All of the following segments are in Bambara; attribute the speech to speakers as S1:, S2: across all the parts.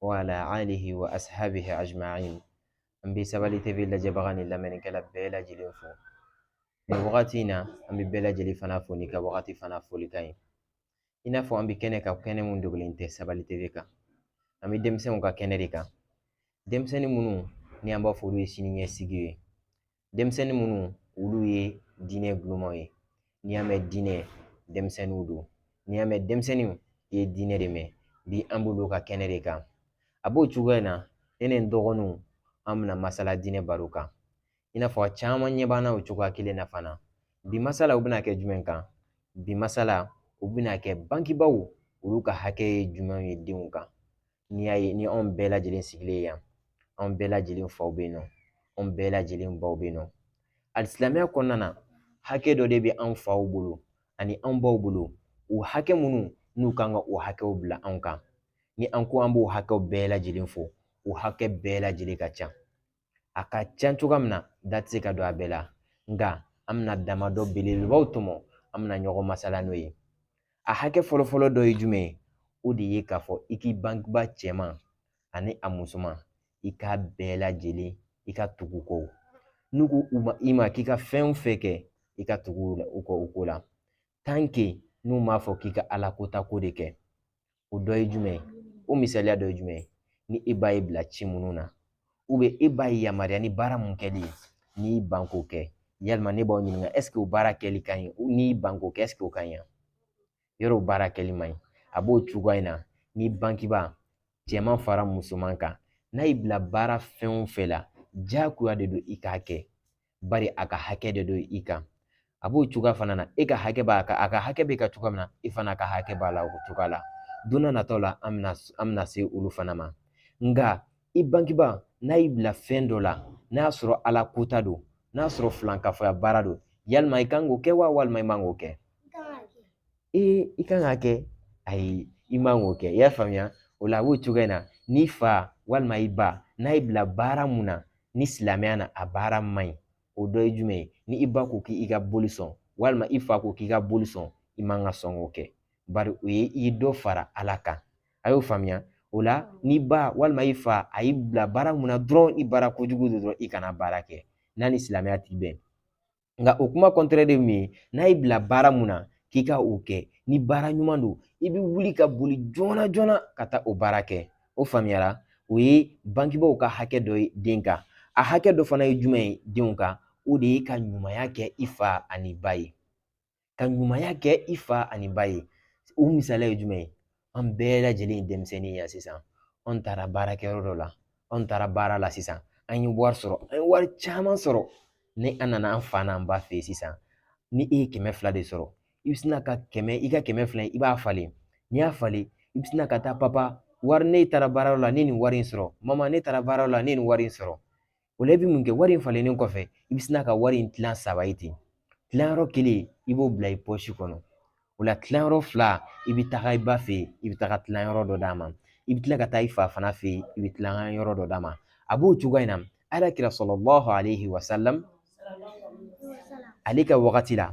S1: wa ala alihi wa ashabihi ajma'in an bɛ sabali tv lajɛbaga ni lamɛnnikɛla bɛɛ lajɛlen fo nin wagati in na an bɛ bɛɛ lajɛlen fana fo n'i ka wagati fana foli ka ɲi i n'a fɔ an bɛ kɛnɛ kan kɛnɛ mun dogolen tɛ sabali tv kan an bɛ denmisɛnw ka kɛnɛ de kan denmisɛnnin minnu ni an b'a fɔ olu ye sini ɲɛsigi ye denmisɛnnin minnu olu ye diinɛ ntulomaw ye n'i y'a mɛn diinɛ denmisɛnninw don n'i y'a mɛn denmisɛnninw i ye diinɛ de mɛn bi an b'olu ka kɛnɛ de kan a b'o cogoya in na ne ni n dɔgɔninw an bɛna masala diinɛ baro kan i n'a fɔ a caman ɲɛ b'an na o cogoya kelen na fana bi masalaw bɛna kɛ jumɛn kan bi masalaw bɛna kɛ bangebaaw olu ka hakɛ ye jumɛn ye denw kan n'i y'a ye ni anw bɛɛ lajɛlen sigilen ye yan anw bɛɛ lajɛlen faw bɛ yen nɔ anw bɛɛ lajɛlen baw bɛ yen nɔ hali silamɛya kɔnɔna na hakɛ dɔ de bɛ anw faw bolo ani anw baw bolo o hakɛ minnu n'u kan ka o hakɛw bila anw kan ni an ko an b'o hakɛw bɛɛ lajɛlen fɔ o hakɛ bɛɛ lajɛlen ka ca a ka ca cogoya min na da tɛ se ka don a bɛɛ la nka an bɛna damadɔ belebelebaw tɔmɔ an bɛna ɲɔgɔn masala n'o ye a hakɛ fɔlɔfɔlɔ dɔ ye jumɛn ye o de ye k'a fɔ i k'i bangebaa cɛman ani a musoman i k'a bɛɛ lajɛlen i ka tugu u kɔ n'u ko i ma k'i ka fɛn o fɛn kɛ i ka tugu u kɔ o ko la tanke n'u m'a fɔ k'i ka ala kota ko de kɛ o dɔ ye jumɛn ye o misaliya dɔ ye jumɛn ye ni e ba y'e bila ci minnu na e ba y'e yamaruya ni baara mun kɛli ye n'i ban k'o kɛ yalima ne b'aw ɲininka ɛseke o baara kɛli ka ɲi n'i ban k'o kɛ ɛseke o ka ɲi wa yɔrɔ o baara kɛli man ɲi a b'o cogoya in na ni bangebaa cɛman fara musoman kan n'a y'i bila baara fɛn o fɛn la diyagoya de don i k'a kɛ bari a ka hakɛ de don i kan a b'o cogoya fana na e ka hakɛ b'a kan a ka hakɛ b'e kan cogoya min na i fana ka hakɛ b'a la o cogoya la don nataw la an bɛna an bɛna se olu fana ma nka i bangebaa n'a y'i bila fɛn dɔ la n'a y'a sɔrɔ ala kota don n'a sɔrɔ filankafoya baara don yalima i kan k'o kɛ wa walima i man k'o kɛ ee i kan k'a kɛ ayi i man k'o kɛ i y'a faamuya o la a b'o cogoya in na n'i fa walima i ba n'a y'i bila baara mun na ni silamɛya na a baara man ɲi o dɔ ye jumɛn ye ni i ba ko k'i ka boli sɔn walima i fa ko k'i ka boli sɔn i man ka sɔn k'o kɛ bari o ye i ye dɔ fara ala kan a y'o faamuya o la n'i ba walima i fa a y'i bila baara mun na dɔrɔn i baara kojugu de dɔrɔn i kana baara kɛ n'a ni silamɛya ti bɛn nka o kuma kɔntɛrɛ de min ye n'a y'i bila baara mun na k'i ka o kɛ ni baara ɲuman don i bɛ wuli ka boli joona joona ka taa o baara kɛ o faamuyara o ye bangebaaw ka hakɛ dɔ ye den kan a hakɛ dɔ fana ye jumɛn ye denw kan o de ye ka ɲumanya kɛ i fa an'i ba ye ka ɲumanya kɛ i fa ani ba ye o misaliya ye jumɛn ye an bɛɛ lajɛlen ye denmisɛnnin ye sisan anw taara baarakɛyɔrɔ dɔ la anw taara baara la sisan an ye wari sɔrɔ an ye wari caman sɔrɔ ni an nana an fa n'an ba fɛ yen sisan ni e ye kɛmɛ fila de sɔrɔ i bɛ sina ka kɛmɛ i ka kɛmɛ fila i b'a falen n'i y'a falen i bɛ sina ka taa papa wari ne taara baarayɔrɔ la ne ye nin wari in sɔrɔ mama ne taara baarayɔrɔ la ne ye nin wari in sɔrɔ O la i bɛ mun kɛ wari in falennen kɔfɛ i bɛ sina ka wari in tilan saba ye ten tilanyɔrɔ kelen i b'o bila i pɔsi kɔnɔ o la tilanyɔrɔ fila i bɛ taga i ba fɛ yen i bɛ taga tilanyɔrɔ dɔ d'a ma i bɛ tila ka taa i fa fana fɛ yen i bɛ tilanyɔrɔ dɔ d'a ma a b'o cogoya in na ala kira salalahu aleyhi wa salam ale ka wagati la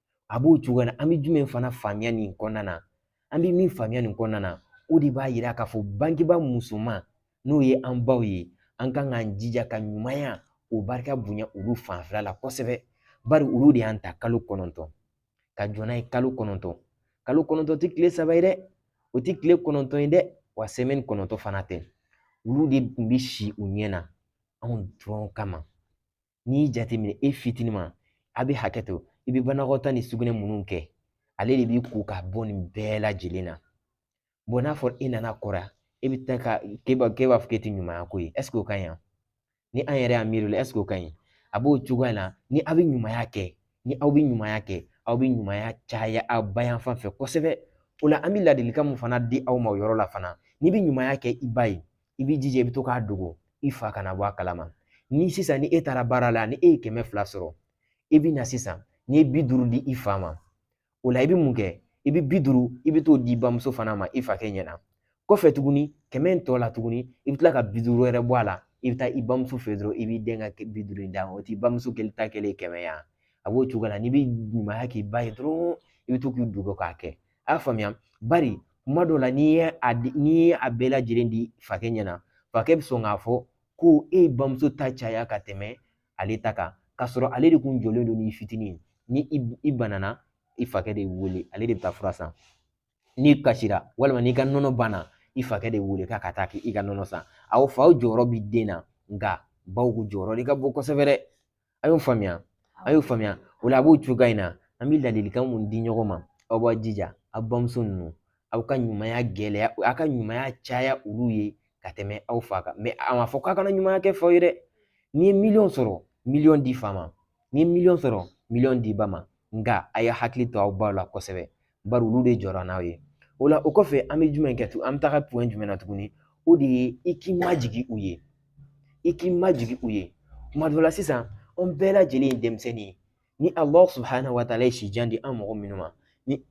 S1: a b'o cogoya la an bɛ jumɛn fana faamuya nin kɔnɔna na an bɛ min faamuya nin kɔnɔna na o de b'a yira k'a fɔ bangebaa musoman n'o ye an baw ye an kan k'an jija ka ɲumanya o barika bonya olu fanfɛla la kosɛbɛ bari olu de y'an ta kalo kɔnɔntɔn ka jɔ n'an ye kalo kɔnɔntɔn kalo kɔnɔntɔn tɛ tile saba ye dɛ o tɛ tile kɔnɔntɔn ye dɛ wa sɛmɛni kɔnɔntɔn fana tɛ olu de tun bɛ si u ɲɛ na anw dɔrɔn kama n'i y'i jateminɛ e fitininma a bɛ hakɛ to i bɛ banakɔtaa ni sugunɛ minnu kɛ ale de b'i ko ka bɔ nin bɛɛ lajɛlen na bɔn n'a fɔra e nana kɔrɔ e bɛ taa ka k'e b'a k'e b'a fɔ k'e tɛ ɲumanya k'o ye ɛseke o ka ɲi ni an yɛrɛ y'a miiri o la ɛseke o ka ɲi a b'o cogoya la ni aw bɛ ɲumanya kɛ ni aw bɛ ɲumanya kɛ aw bɛ ɲumanya caya aw ba yan fan fɛ kosɛbɛ o la an bɛ ladilikan mun fana di aw ma o yɔrɔ la fana n'i bɛ ɲumanya kɛ i ba ye i b'i jija i bɛ to k'a dogo i fa kana bɔ a kalama ni sisan ni e taara baara la ni e ye kɛmɛ fila sɔrɔ i bɛ na sisan n'i ye bi duuru di i fa ma o la i bɛ mun kɛ i bɛ bi duuru i bɛ t'o di bamuso fana ma i fakɛ ɲɛna kɔfɛ tuguni kɛmɛ in tɔ la tuguni i bɛ tila ka bi duuru wɛrɛ bɔ a la i bɛ taa i bamuso fɛ dɔrɔn i b'i dɛn ka bi duuru in d'a ma o t'i bamuso kelen ta kɛlen kɛmɛ ye a b'o cogo la n'i bɛ ɲumanya k'i ba ye dɔrɔn i bɛ to k'i dogo k'a kɛ a y'a faamuya bari kuma dɔw la n'i ye a di n'i ye a bɛɛ lajɛlen di fakɛ ɲɛna fakɛ bɛ sɔn k'a fɔ ko e ye bamuso ta caya ka tɛmɛ ale ta kan k'a sɔrɔ ale de kun jɔlen don ni fitinin ni i banana i fakɛ de wele ale de bɛ taa fura san n'i kasira walima n'i ka nɔnɔ banna i fakɛ de wele k'a ka taa k'i ka nɔnɔ san aw faw jɔyɔrɔ bɛ den na nka baw ko jɔyɔrɔ de ka bon kosɛbɛ dɛ A y'o faamuya a y'o faamuya o la a b'o cogoya in na an bɛ ladilikan mun di ɲɔgɔn ma aw b'a jija aw bamuso ninnu aw ka ɲumanya gɛlɛya aw ka ɲumanya caya olu ye ka tɛmɛ aw fa kan a ma fɔ k'a kana ɲumanya kɛ faw ye dɛ n'i ye miliyɔn sɔrɔ miliyɔn di fa ma n'i ye miliyɔn sɔrɔ miliyɔn di ba ma nka a ye hakili to aw baw la kosɛbɛ bari olu de jɔra n'aw ye o la o kɔfɛ an bɛ jumɛn kɛ tuguni an bɛ taga point jumɛn na tuguni o de ye i k'i majigin u ye i k'i majigin u ye tuma dɔ la sisan an bɛɛ lajɛlen ye denmisɛnnin ye ni alahu subahana wa taala ye si jan di an mɔgɔ minnu ma ni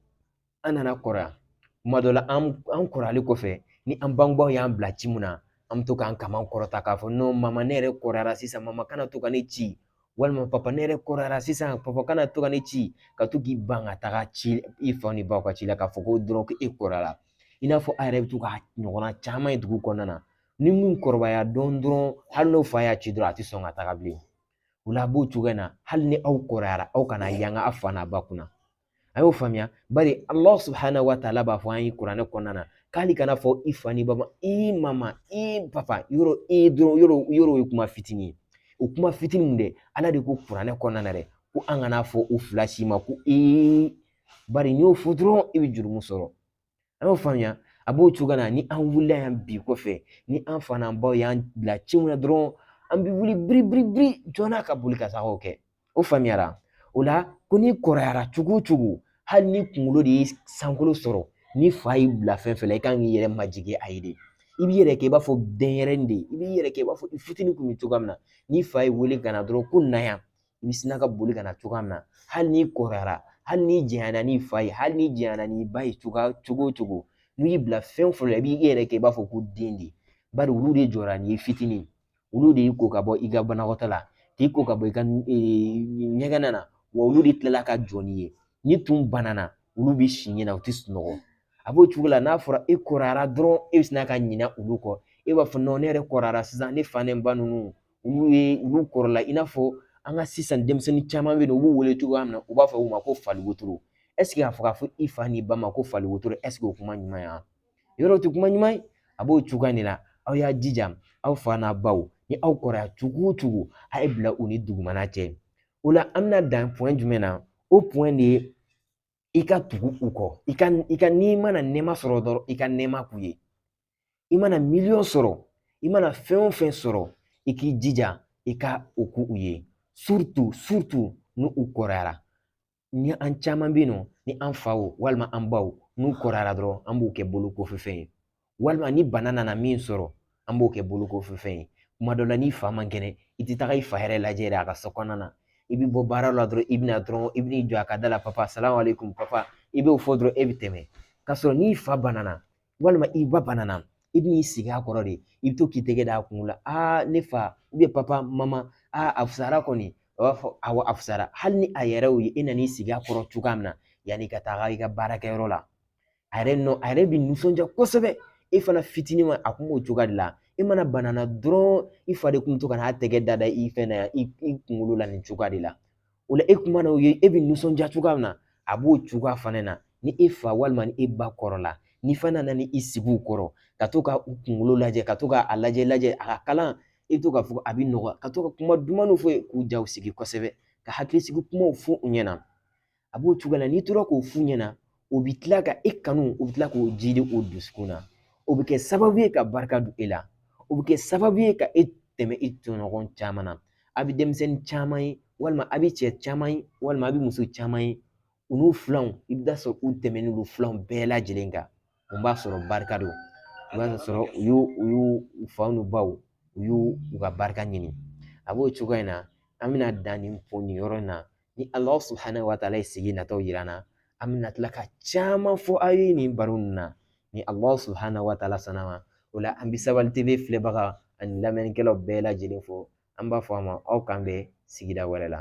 S1: an nana kɔrɔya tuma dɔ la an an kɔrɔyali kɔfɛ ni an bangebaaw y'an bila ci mun na an bɛ to k'an kaman kɔrɔta k'a fɔ non ma ne yɛrɛ kɔrɔyara sisan ma kana to ka ne ci walima papa ne yɛrɛ kɔrɔyara sisan papa kana to ka ne ci ka to k'i ban ka taga ci i fa n'i baw ka ci la k'a fɔ ko dɔrɔn ko e kɔrɔyara i n'a fɔ a yɛrɛ bɛ to k'a ɲɔgɔnna caman ye dugu kɔnɔna na ni mun kɔrɔbaya dɔɔnin dɔrɔn hali n'o fa y'a ci dɔrɔn a tɛ sɔn ka taga bilen o la a b'o cogoya in na hali ni aw kɔrɔyara aw kana yanga a fa n'a ba kunna a y'o faamuya bari Allah subhanahu wa taala b'a fɔ an ye kuranɛ kɔnɔna na ko hali kana fɔ i fa n'i ba ma i mama i papa yɔrɔ i dɔrɔn yɔrɔ yɔrɔ o ye kuma fitinin ye o kuma fitinin mun dɛ ala de ko kuranɛ kɔnɔna na dɛ ko an kana fɔ u fila si ma ko i bari n'i y'o fɔ dɔrɔn i bɛ jurumu sɔrɔ a y'o faamuya a b'o cogo na ni an wulila yan bi kɔfɛ ni an fa n'an baw y'an bila ci mun na dɔrɔn an bɛ wuli biri biri biri joona ka boli ka taa o kɛ o faamuyara o la ko n'i kɔrɔyara cogo o cogo hali n'i kunkolo de ye sankolo sɔrɔ n'i fa y'i bila fɛn fɛn la i kan k'i yɛrɛ majigin a ye de i b'i yɛrɛ kɛ i b'a fɔ denyɛrɛnin de i b'i yɛrɛ kɛ i b'a fɔ i fitinin tun bɛ cogoya min na n'i fa y'i wele ka na dɔrɔn ko na yan i bɛ sina ka boli ka na cogoya min na hali n'i kɔrɔyara hali n'i janyana n'i fa ye hali n'i janyana n'i ba ye cogoya cogo o cogo n'u y'i bila fɛn o fɛn la i b'i yɛrɛ kɛ i b'a fɔ ko den de bari olu de jɔra n'i ye fitinin olu de y'i ko ka bɔ i ka banakɔtaa la k'i ko ka bɔ i ka ɲɛgɛn na wa olu de tilala ka jɔ n'i ye n'i tun banana olu bɛ si ɲɛna u tɛ sunɔgɔ a b'o cogo la n'a fɔra e kɔrɔyara dɔrɔn e bɛ sina ka ɲinɛ olu kɔ e b'a fɔ ne yɛrɛ kɔrɔyara sisan ne fa ni ba ninnu olu ye olu kɔrɔla i n'a fɔ an ka sisan denmisɛnnin caman bɛ yen nɔ u b'u wele cogoya min na u b'a fɔ u ma ko fali wotoro ɛseke a fɔ k'a fɔ i fa n'i ba ma ko fali wotoro ɛseke o kuma ɲuman ye wa yɔrɔ o tɛ kuma ɲuman ye a b'o cogoya de la aw y'a jija aw fa n'a baw ni aw kɔrɔya cogo o cogo a y'a bila u ni dugumana cɛ o la an bɛna dan point jumɛn na o de ye i ka tugu u kɔ i ka i ka n'i mana nɛɛma sɔrɔ dɔrɔn i ka nɛɛma k'u ye i mana miliyɔn sɔrɔ i mana fɛn o fɛn sɔrɔ i k'i jija i ka o k'u ye surtout surtout n'u kɔrɔyara ni an caman bɛ yen nɔ ni an faw walima an baw n'u kɔrɔyara dɔrɔn an b'u kɛ bolo kɔfɛ fɛn ye walima ni bana nana min sɔrɔ an b'o kɛ bolokɔfɛ fɛn ye kuma dɔ la n'i fa man kɛnɛ i tɛ taga i fa yɛrɛ lajɛ yɛrɛ a ka so kɔnɔna na i bɛ bɔ baara la dɔrɔn i bɛ na dɔrɔn i bɛ n'i jɔ a ka da la papa salamalekum papa i b'o fɔ dɔrɔn e bɛ tɛmɛ k'a sɔrɔ n'i fa banana walima i ba banana i bɛ n'i sigi a kɔrɔ de i bɛ to k'i tɛgɛ d'a kun la aa ne fa papa mama aa a fusara kɔni a b'a fɔ awɔ a fusara hali ni a yɛrɛ y'o ye e nan'i sigi a kɔrɔ cogoya min na yanni ka taga i ka baarakɛyɔrɔ la a yɛrɛ nɔ a yɛrɛ bi nisɔndiya kosɛbɛ e fana fitininma a kun b'o cogoya de la e mana bana dɔrɔn i fa de kun to ka n'a tɛgɛ da da i fɛn na yan i kunkolo la nin cogoya de la o la e kun mana o ye e bɛ nisɔndiya cogoya min na a b'o cogoya fana na ni e fa walima ni e ba kɔrɔla n'i fana nana ni i sigi u kɔrɔ ka to ka u kunkolo lajɛ ka to ka a lajɛ lajɛ a ka kalan i bɛ to k'a fɔ a bɛ nɔgɔya ka to ka kuma dumanw fɔ k'u jaw sigi kosɛbɛ ka hakili sigi kumaw fɔ u ɲɛna a b'o cogo la n'i tora k'o f'u ɲɛna o bɛ tila ka e kanu u bɛ tila k'o ji de o dusukun na o bɛ kɛ sababu ye ka barika don e la o bɛ kɛ sababu ye ka e tɛmɛ i tɔɲɔgɔn caman na a bɛ denmisɛnnin caman ye walima a bɛ cɛ caman ye walima a bɛ muso caman ye u n'u filanw i bɛ t'a sɔrɔ u tɛmɛnen don filanw bɛɛ lajɛlen kan mun b'a sɔrɔ barika don i b'a sɔrɔ u y'u u y'u u faw n'u baw u y'u u ka barika ɲini a b'o cogoya in na an bɛna dan nin fɔ nin yɔrɔ in na ni Allahu subahana wa taala ye sigi nataw yira an na an bɛna tila ka caman fɔ aw ye nin baro ninnu na ni Allahu subahana wa taala sɔnna ma o la an bɛ Sabali TV filɛbaga ani lamɛnnikɛlaw bɛɛ lajɛlen fo an b'a fɔ a ma aw k'an bɛn sigida wɛrɛ la.